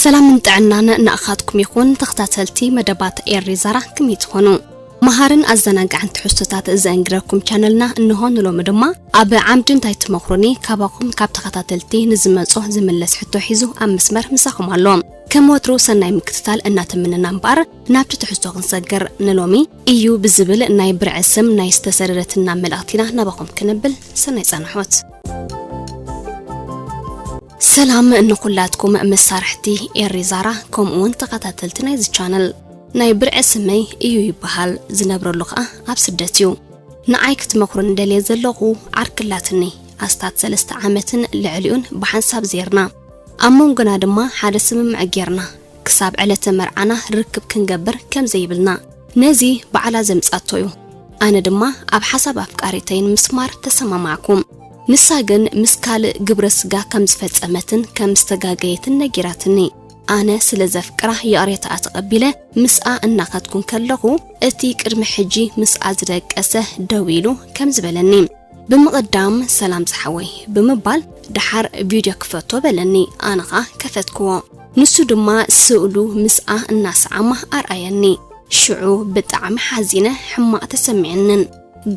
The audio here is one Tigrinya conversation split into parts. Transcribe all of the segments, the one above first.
ሰላምን ጥዕናን ንኣኻትኩም ይኹን ተኸታተልቲ መደባት ኤሪ ዛራ ክመይ ትኾኑ መሃርን ኣዘናጋዕን ትሕዝቶታት ዘእንግረኩም ቻነልና እንሆ ንሎሚ ድማ ኣብ ዓምዲ እንታይ ትመኽሩኒ? ካባኹም ካብ ተኸታተልቲ ንዝመጾ ዝምለስ ሕቶ ሒዙ ኣብ መስመር ምሳኹም ኣሎ። ከም ወትሩ ሰናይ ምክትታል እናተመነና እምበኣር ናብቲ ትሕዝቶ ክንሰግር ንሎሚ እዩ ብዝብል ናይ ብርዒ ስም ናይ ዝተሰደደትና መልእኽቲ ኢና ናባኹም ክንብል ሰናይ ጸንሖት። ሰላም ንኹላትኩም መሳርሕቲ ኤሪ ዛራ ከምኡውን ተኸታተልቲ ናይዚ ቻነል ናይ ብርዒ ስመይ እዩ ይበሃል ዝነብረሉ ከኣ ኣብ ስደት እዩ ንዓይ ክትመኽሩኒ ደልየ ዘለኹ ዓርኪ ኣላትኒ ኣስታት ሰለስተ ዓመትን ልዕሊኡን ብሓንሳብ ዜርና ኣብ መንጎና ድማ ሓደ ስምምዕ ጌርና ክሳብ ዕለተ መርዓና ርክብ ክንገብር ከም ዘይብልና ነዚ ባዕላ ዘምጻቶ ዩ ኣነ ድማ ኣብ ሓሳብ ኣፍቃሪተይ ንምስማር ተሰማማዕኩ ንሳ ግን ምስ ካልእ ግብረ ስጋ ከም ዝፈጸመትን ከም ዝተጋገየትን ነጊራትኒ ኣነ ስለ ዘፍቅራ ይቕሬታኣ ተቐቢለ ምስኣ እናኸድኩ ከለኹ እቲ ቅድሚ ሕጂ ምስኣ ዝደቀሰ ደው ኢሉ ከምዚ በለኒ ብምቕዳም ሰላም ዝሓወይ ብምባል ደሓር ቪድዮ ክፈቶ በለኒ ኣነ ኸኣ ከፈትክዎ ንሱ ድማ ስእሉ ምስኣ እናሰዓማ ኣርኣየኒ ሽዑ ብጣዕሚ ሓዚነ ሕማቕ ተሰሚዕንን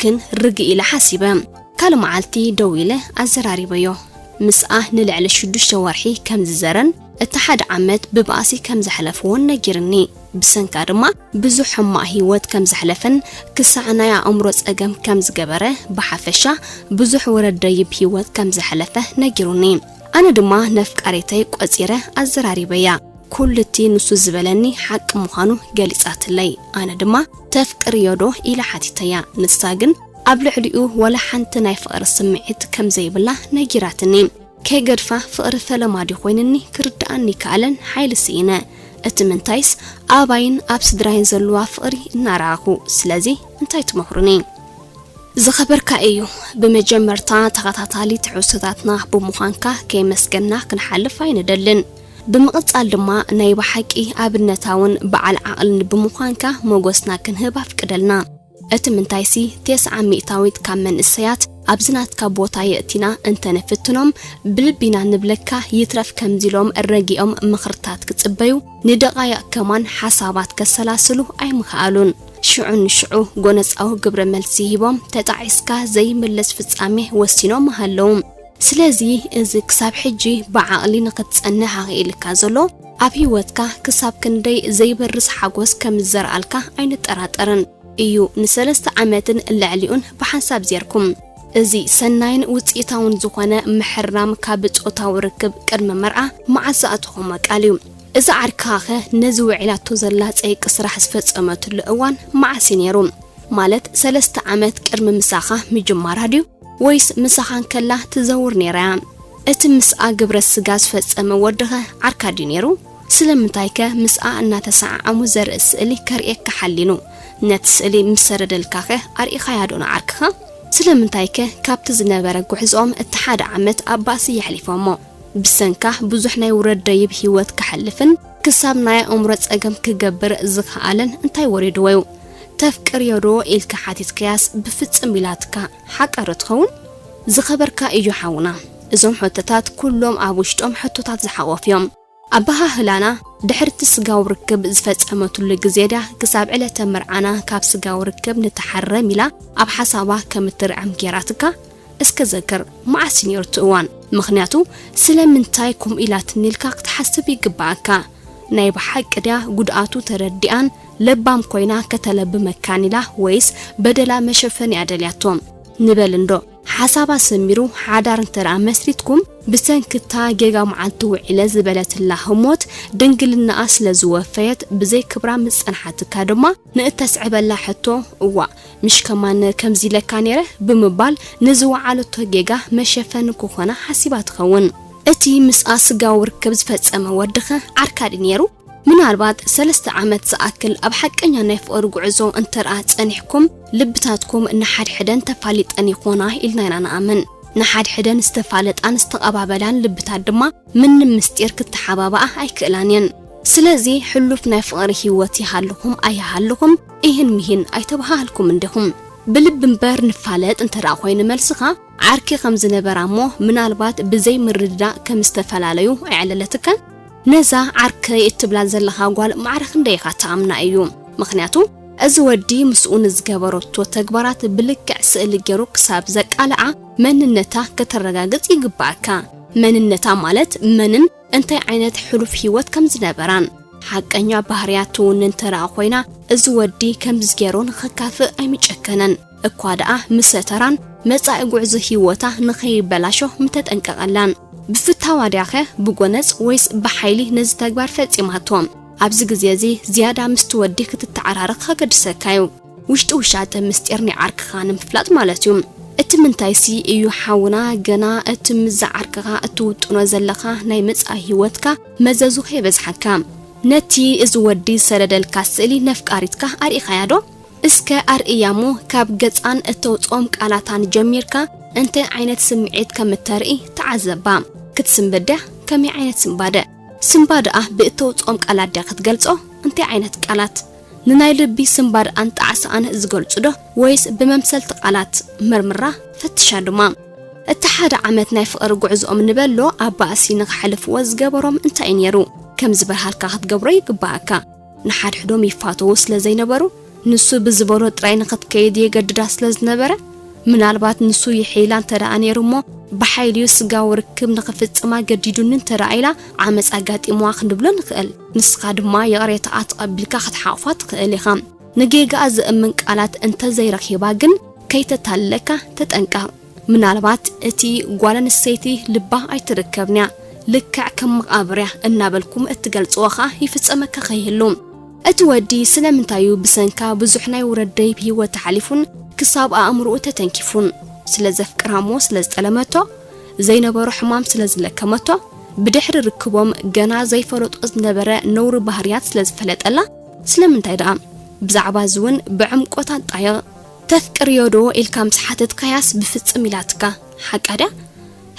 ግን ርግእ ኢለ ሓሲበ ካልእ መዓልቲ ደው ኢለ ኣዘራሪበዮ ምስኣ ንልዕሊ ሽዱሽተ ወርሒ ከም ዝዘረን እቲ ሓደ ዓመት ብባእሲ ከም ዘሕለፍዎን ነጊርኒ። ብሰንካ ድማ ብዙሕ ሕማቕ ህይወት ከም ዘሕለፈን ክሳዕ ናይ ኣእምሮ ጸገም ከም ዝገበረ ብሓፈሻ ብዙሕ ውረድ ደይብ ህይወት ከም ዘሕለፈ ነጊሩኒ። ኣነ ድማ ነፍቃሪተይ ቆጺረ ኣዘራሪበያ። ኩሉ እቲ ንሱ ዝበለኒ ሓቂ ምዃኑ ገሊጻትለይ። ኣነ ድማ ተፍቅርዮዶ ኢለ ሓቲተያ። ንሳ ግን ኣብ ልዕሊኡ ዋላ ሓንቲ ናይ ፍቕሪ ስምዒት ከም ዘይብላ ነጊራትኒ። ከይገድፋ ፍቕሪ ፈለማ ድዩ ኮይንኒ ክርድኣኒ ይከኣለን ሓይሊ ስኢነ እቲ ምንታይስ ኣባይን ኣብ ስድራይን ዘለዋ ፍቕሪ እናረኣኹ ስለዚ እንታይ ትመኽሩኒ? ዝኸበርካ እዩ ብመጀመርታ ተኸታታሊ ትሕዝቶታትና ብምዃንካ ከየመስገንና ክንሓልፍ ኣይንደልን ብምቕጻል ድማ ናይ ብሓቂ ኣብነታውን በዓል ዓቕልን ብምዃንካ ሞጎስና ክንህብ ኣፍቅደልና። እቲ ምንታይሲ ቴስዓ ሚእታዊት ካብ መንእሰያት ኣብዚ ናትካ ቦታ የእቲና እንተ ንፍትኖም ብልቢ ኢና ንብለካ ይትረፍ ከምዚ ኢሎም ረጊኦም ምኽርታት ክጽበዩ ንደቓይቕ ከማን ሓሳባት ከሰላስሉ ኣይምኸኣሉን ሽዑ ንሽዑ ጎነጻዊ ግብረ መልሲ ሂቦም ተጣዒስካ ዘይምለስ ፍጻሜ ወሲኖም ምሃለዉ ስለዚ እዚ ክሳብ ሕጂ ብዓቕሊ ንኽትጸንሕ ኣኽኢልካ ዘሎ ኣብ ህይወትካ ክሳብ ክንደይ ዘይበርስ ሓጐስ ከም ዝዘርኣልካ ኣይንጠራጠርን። እዩ ንሰለስተ ዓመትን ልዕሊኡን ብሓንሳብ ዜርኩም። እዚ ሰናይን ውጽኢታውን ዝዀነ ምሕራም ካብ ጾታዊ ርክብ ቅድሚ መርዓ መዓስ ዝኣተኹሞ ቃል እዩ? እዛ ዓርክኻኸ ነዚ ውዒላቶ ዘላ ጸይቂ ስራሕ ዝፈጸመትሉ እዋን መዓስ እዩ ነይሩ? ማለት ሰለስተ ዓመት ቅድሚ ምሳኻ ምጅማራ ድዩ? ወይስ ምሳኻ እንከላ ትዘውር ነይራ እያ? እቲ ምስኣ ግብረ ስጋ ዝፈጸመ ወድኸ ዓርካ ድዩ ነይሩ? ስለምንታይከ ምስኣ እናተሰዓዓሙ ዘርኢ ስእሊ ከርእየካ ሓሊኑ? ነቲ ስእሊ ምስ ሰደደልካኸ ኣርኢኻያዶ ንዓርክኻ? ስለምንታይከ ካብቲ ዝነበረ ጉዕዝኦም እቲ ሓደ ዓመት ኣብ ባእሲ የሕሊፎሞ? ብሰንካ ብዙሕ ናይ ውረድ ደይብ ህይወት ከሕልፍን፣ ክሳብ ናይ ኣእምሮ ጸገም ክገብር ዝኸኣለን እንታይ ወሪድዎ'ዩ? ተፍቅርዮዶ ኢልካ ሓቲትካያስ ብፍጽም ኢላትካ ሓቃዶ ትኸውን? ዝኸበርካ ኢዩ ሓውና እዞም ሕቶታት ኩሎም ኣብ ውሽጦም ሕቶታት ዝሓቖፉ እዮም። ኣበሃህላና ድሕሪ'ቲ ስጋዊ ርክብ ዝፈጸመትሉ ግዜ ድያ ክሳብ ዕለተ መርዓና ካብ ስጋዊ ርክብ ንተሓረም ኢላ ኣብ ሓሳባ ከም እትርዕም ጌራትካ? እስከ ዘክር መዓስ ኔሩቲ እዋን ምክንያቱ ስለምንታይ ኮምኡ ኢላትኒ ኢልካ ክትሓስብ ይግበኣካ ናይ ብሓቂ ድያ ጉድኣቱ ተረዲኣን ለባም ኮይና ከተለቢ መካን ኢላ ወይስ በደላ መሸፈኒ እያ ደልያቶ ንበል እንዶ ሓሳባ ሰሚሩ ሓዳር እንተደኣ መስሪትኩም ብሰንክታ ጌጋ መዓልቲ ውዒለ ዝበለትላ ህሞት ድንግልናኣ ስለ ዝወፈየት ብዘይ ክብራ ምስ ጸንሓትካ ድማ ንእተስዕበላ ሕቶ እዋእ ምሽ ከማን ከምዚ ኢለካ ነይረ ብምባል ንዝወዓለቶ ጌጋ መሸፈኒ ክኾና ሓሲባ ትኸውን። እቲ ምስኣ ስጋዊ ርክብ ዝፈጸመ ወዲኸ ዓርካ ድዩ ነይሩ? ምናልባት ሰለስተ ዓመት ዝኣክል ኣብ ሓቀኛ ናይ ፍቕሪ ጉዕዞ እንተድኣ ጸኒሕኩም ልብታትኩም ንሓድሕደን ተፋሊጠን ይኾና ኢልና ኢና ንኣምን። ንሓድሕደን ዝተፋለጣን ዝተቐባበላን ልብታት ድማ ምንም ምስጢር ክተሓባብኣ ኣይክእላን እየን። ስለዚ ሕሉፍ ናይ ፍቕሪ ህይወት ይሃልኹም ኣይሃልኹም ኢሂን ምሂን ኣይተበሃሃልኩምን ዲኹም? ብልቢ እምበር ንፋለጥ እንተ ደኣ ኮይኑ መልስኻ ዓርኪ ከም ዝነበራ እሞ ምናልባት ብዘይ ምርድዳእ ከም ዝተፈላለዩ ኣዕለለትካ? ነዛ ዓርከይ እትብላ ዘለኻ ጓል ማዕረ ክንደይ ኢኻ ትኣምና ኢዩ? ምኽንያቱ እዚ ወዲ ምስኡ ንዝገበረቶ ተግባራት ብልክዕ ስእሊ ጌሩ ክሳብ ዘቃልዓ መንነታ ከተረጋግጽ ይግብኣካ። መንነታ ማለት መንን እንታይ ዓይነት ሕሉፍ ህይወት ከም ዝነበራን ሓቀኛ ባህርያት ትውንን ተረኣ ኮይና እዚ ወዲ ከምዚ ገይሩ ንኽካፍእ ኣይምጨከነን እኳ ደኣ ምሰ ተራን መጻኢ ጉዕዞ ህይወታ ንኸይበላሾ ምተጠንቀቐላን ብፍታዋ ድያኸ ብጎነጽ ወይስ ብሓይሊ ነዚ ተግባር ፈጺማቶ ኣብዚ ግዜ እዚ ዝያዳ ምስቲ ወዲ ክትተዓራረኽ ከገድሰካዩ ውሽጢ ውሻጠ ምስጢር ናይ ዓርክኻ ንምፍላጥ ማለት እዩ። እቲ ምንታይሲ እዩ ሓውና ገና እቲ ምስዛ ዓርክኻ እትውጥኖ ዘለኻ ናይ መጻኢ ህይወትካ መዘዙ ከይበዝሓካ ነቲ እዚ ወዲ ዝሰደደልካ ስእሊ ነፍቃሪትካ ኣርኢኻያ ዶ? እስከ ኣርእያ እሞ ካብ ገጻን እተውጽኦም ቃላታን ጀሚርካ እንታይ ዓይነት ስምዒት ከም እተርኢ ተዓዘባ። ክትስንብድ ድያ? ከመይ ዓይነት ስንባደ? ስንባደኣ ብእተውጽኦም ቃላት ድያ ክትገልጾ? እንታይ ዓይነት ቃላት? ንናይ ልቢ ስንባደኣን ጣዕሳኣን ዝገልጹ'ዶ ወይስ ብመምሰልቲ ቃላት? መርምራ ፈትሻ ድማ። እቲ ሓደ ዓመት ናይ ፍቕሪ ጉዕዝኦም ንበሎ ኣብ ባእሲ ንኸሕልፍዎ ዝገበሮም እንታይ'ዩ ነይሩ? ከም ዝበርሃልካ ክትገብሮ ይግበኣካ። ንሓድሕዶም ይፋተዉ ስለ ዘይነበሩ፣ ንሱ ብዝበሎ ጥራይ ንኽትከይድ የገድዳ ስለ ዝነበረ፣ ምናልባት ንሱ ይሕይላ እንተደኣ ነይሩ'ሞ ብሓይሊ'ዩ ስጋዊ ርክብ ንኽፍጽማ ገዲዱኒ እንተደኣ ኢላ ዓመጽ ኣጋጢምዋ ክንብሎ ንኽእል። ንስኻ ድማ ይቕሬታኣ ተቐቢልካ ክትሓቑፋ ትኽእል ኢኻ። ንጌጋኣ ዘእምን ቃላት እንተ ዘይረኺባ ግን ከይተታልለካ ተጠንቀቕ። ምናልባት እቲ ጓል ኣንስተይቲ ልባ ኣይትርከብን'ያ፣ ልክዕ ከም መቓብር'ያ እናበልኩም እትገልጽዎ ከኣ ይፍጸመካ ከይህሉ። እቲ ወዲ ስለምንታይ'ዩ ብሰንካ ብዙሕ ናይ ውረድ ደይብ ህይወት ሓሊፉን ክሳብ ኣእምሮኡ ተተንኪፉን? ስለ ዘፍቅራ'ሞ ስለ ዝጠለመቶ? ዘይነበሮ ሕማም ስለ ዝለከመቶ? ብድሕሪ ርክቦም ገና ዘይፈለጦ ዝነበረ ነውሪ ባህርያት ስለ ዝፈለጠላ ስለምንታይ ደኣ ብዛዕባ እዚ ውን ብዕምቆት ኣጣይቕ። ተፍቅርዮ ዶ ኢልካ ምስ ሓተትካያስ ብፍጽም ኢላትካ ሓቃ ድያ?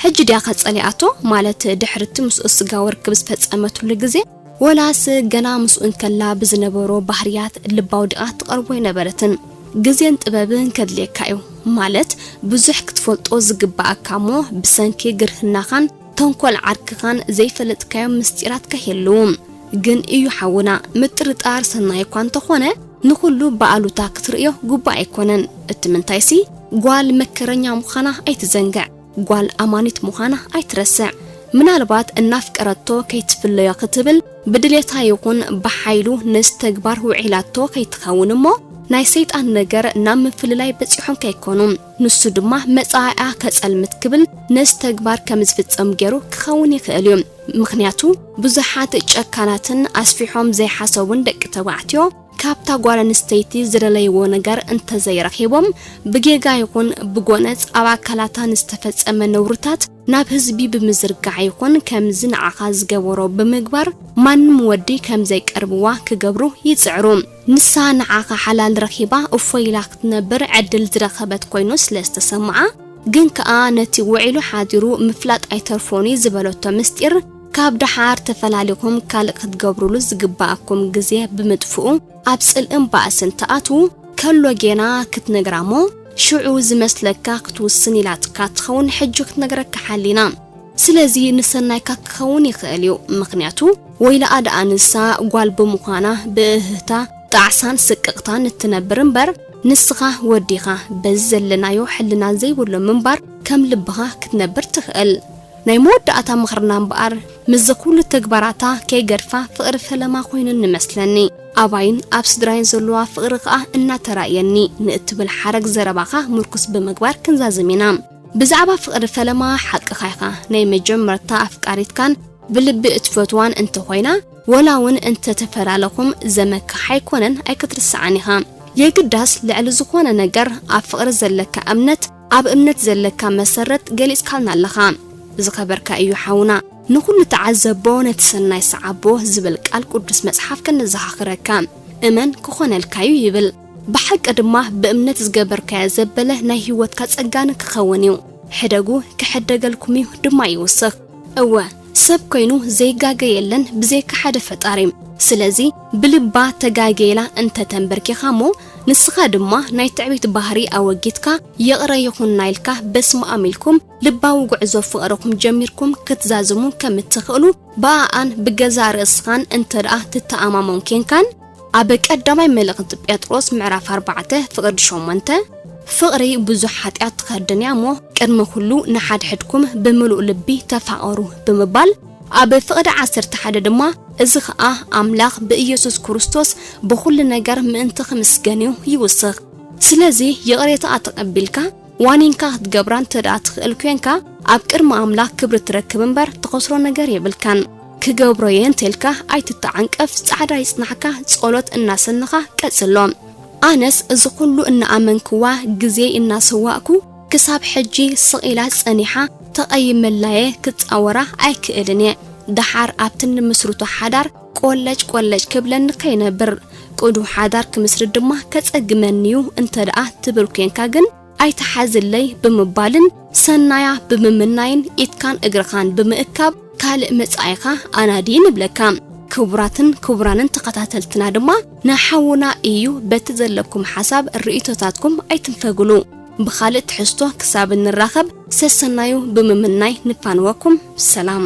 ሕጂ ድያኸ ጸሊኣቶ ማለት ድሕሪቲ ምስኡ ስጋዊ ርክብ ዝፈጸመትሉ ግዜ? ወላስ ገና ምስኡ እንከላ ብዝነበሮ ባህርያት ልባ ኣውዲቓ ትቐርቦ ኣይነበረትን? ግዜን ጥበብን ከድልየካ እዩ ማለት ብዙሕ ክትፈልጦ ዝግብኣካ እሞ ብሰንኪ ግርህናኻን ተንኮል ዓርክኻን ዘይፈለጥካዮም ምስጢራት ከይህልው። ግን እዩ ሓውና ምጥርጣር ሰናይ እኳ እንተኾነ ንኹሉ ብኣሉታ ክትርእዮ ግቡእ ኣይኮነን እቲ ምንታይሲ ጓል መከረኛ ምዃና ኣይትዘንግዕ ጓል ኣማኒት ምዃና ኣይትረስዕ ምናልባት እናፍቀረቶ ከይትፍለዮ ክትብል ብድሌታ ይኹን ብሓይሉ ነዚ ተግባር ውዒላቶ ከይትኸውን እሞ ናይ ሰይጣን ነገር ናብ ምፍልላይ በጺሖም ከይኮኑ ንሱ ድማ መጻኢኣ ከጸልምት ክብል ነዚ ተግባር ከምዝፍጸም ገይሩ ክኸውን ይኽእል እዩ። ምኽንያቱ ብዙሓት ጨካናትን ኣስፊሖም ዘይሓሰቡን ደቂ ተባዕትዮ ካብታ ጓል ኣንስተይቲ ዝደለይዎ ነገር እንተዘይረኺቦም ብጌጋ ይኹን ብጎነጽ ኣብ ኣካላታ ንዝተፈጸመ ነውርታት ናብ ህዝቢ ብምዝርጋሕ ይኹን ከምዚ ንዓኻ ዝገበሮ ብምግባር ማንም ወዲ ከምዘይቀርብዋ ክገብሩ ይጽዕሩ። ንሳ ንዓኻ ሓላል ረኺባ እፎይ ኢላ ክትነብር ዕድል ዝረኸበት ኮይኑ ስለ ዝተሰምዓ ግን ከኣ ነቲ ውዒሉ ሓዲሩ ምፍላጥ ኣይተርፎን'ዩ ዝበለቶ ምስጢር ካብ ደሓር ተፈላሊኹም ካልእ ክትገብሩሉ ዝግበኣኩም ግዜ ብምጥፍኡ ኣብ ጽልእን ባእስን ትኣትዉ ከሎ ጌና ክትነግራ'ሞ ሽዑ ዝመስለካ ክትውስን ኢላትካ ትኸውን ሕጂ ክትነግረካ ሓሊና ስለዚ ንሰናይካ ክኸውን ይኽእል እዩ ምኽንያቱ ወይላኣ ደኣ ንሳ ጓል ብምዃና ብእህህታ ጣዕሳን ስቅቕታን እትነብር እምበር ንስኻ ወዲ ኢኻ በዚ ዘለናዮ ሕልና ዘይብሉ ምንባር ከም ልብኻ ክትነብር ትኽእል ናይ መወዳእታ ምኽርና እምበኣር ምስዚ ኩሉ ተግባራታ ከይገድፋ ፍቕሪ ፈለማ ኮይኑኒ መስለኒ ኣባይን ኣብ ስድራይን ዘለዋ ፍቕሪ ከኣ እናተራእየኒ ንእትብል ሓረግ ዘረባኻ ምርኩስ ብምግባር ክንዛዝም ኢና ብዛዕባ ፍቕሪ ፈለማ ሓቅኻ ኢኻ፣ ናይ መጀመርታ ኣፍቃሪትካን ብልቢ እትፈትዋን እንተኾይና ወላ ውን እንተተፈላለኹም ዘመክሕ ኣይኮነን ኣይክትርስዓን ኢኻ። የግዳስ ልዕሊ ዝኾነ ነገር ኣብ ፍቕሪ ዘለካ እምነት ኣብ እምነት ዘለካ መሰረት ገሊጽካልና ኣለኻ ዝኸበርካ እዩ ሓውና። ንኹሉ ተዓዘቦ ነቲ ሰናይ ሰዓቦ ዝብል ቃል ቁዱስ መጽሓፍ ከነዘኻኽረካ እመን ክኾነልካዩ ይብል። ብሓቂ ድማ ብእምነት ዝገበርካዮ ዘበለ ናይ ህይወትካ ጸጋን ክኸውን እዩ። ሕደጉ ክሕደገልኩም እዩ ድማ ይውስኽ። እወ ሰብ ኮይኑ ዘይጋገ የለን ብዘይካ ሓደ ፈጣሪ። ስለዚ ብልባ ተጋግየ ኢላ እንተ ተንበርኪኻ እሞ ንስኻ ድማ ናይ ትዕቢት ባህሪ ኣወጊድካ ይቕረ ይኹንና ኢልካ በስመኣም ኢልኩም ልባዊ ጉዕዞ ፍቕርኹም ጀሚርኩም ክትዛዝሙ ከም እትኽእሉ ብኣኣን ብገዛእ ርእስኻን እንተ ደኣ ትተኣማመን ኴንካን ኣብ ቀዳማይ መልእኽቲ ጴጥሮስ ምዕራፍ ኣርባዕተ ፍቕዲ ሸሞንተ፣ ፍቕሪ ብዙሕ ሓጢኣት ትኸድን እያ እሞ፣ ቅድሚ ዅሉ ንሓድሕድኩም ብምሉእ ልቢ ተፋቐሩ ብምባል፣ ኣብ ፍቕዲ ዓሰርተ ሓደ ድማ፣ እዚ ኸኣ ኣምላኽ ብኢየሱስ ክርስቶስ ብዅሉ ነገር ምእንቲ ኺምስገን እዩ፣ ይውስኽ። ስለዚ፣ ይቕሬታኣ ተቐቢልካ፣ ዋኒንካ ኽትገብራ እንተ ደኣ ትኽእል ኴንካ፣ ኣብ ቅድሚ ኣምላኽ ክብሪ ትረክብ እምበር፣ ትኸስሮ ነገር የብልካን። ክገብሮ እየ እንተልካ ኣይትተዓንቀፍ ጻዕዳ ይጽናሕካ ጸሎት እናሰነኻ ቀጽሎ ኣነስ እዚ ኩሉ እናኣመንክዋ ግዜይ እናሰዋእኩ ክሳብ ሕጂ ስቕ ኢላ ጸኒሓ ተቐይመላየ ክጻወራ ኣይክእልን እየ ደሓር ኣብቲ ንምስርቶ ሓዳር ቆለጭ ቆለጭ ክብለኒ ከይነብር ቅዱው ሓዳር ክምስርት ድማ ከጸግመኒዩ እንተደኣ ትብል ኮንካ ግን ኣይትሓዝለይ ብምባልን ሰናያ ብምምናይን ኢድካን እግርኻን ብምእካብ ካልእ መጻኢኻ ኣናዲ ንብለካ። ክቡራትን ክቡራንን ተኸታተልትና ድማ ንሓውና ኢዩ በቲ ዘለኩም ሓሳብ ርእይቶታትኩም ኣይትንፈግሉ። ብኻልእ ትሕዝቶ ክሳብ እንራኸብ ሰሰናዩ ብምምናይ ንፋንወኩም ሰላም።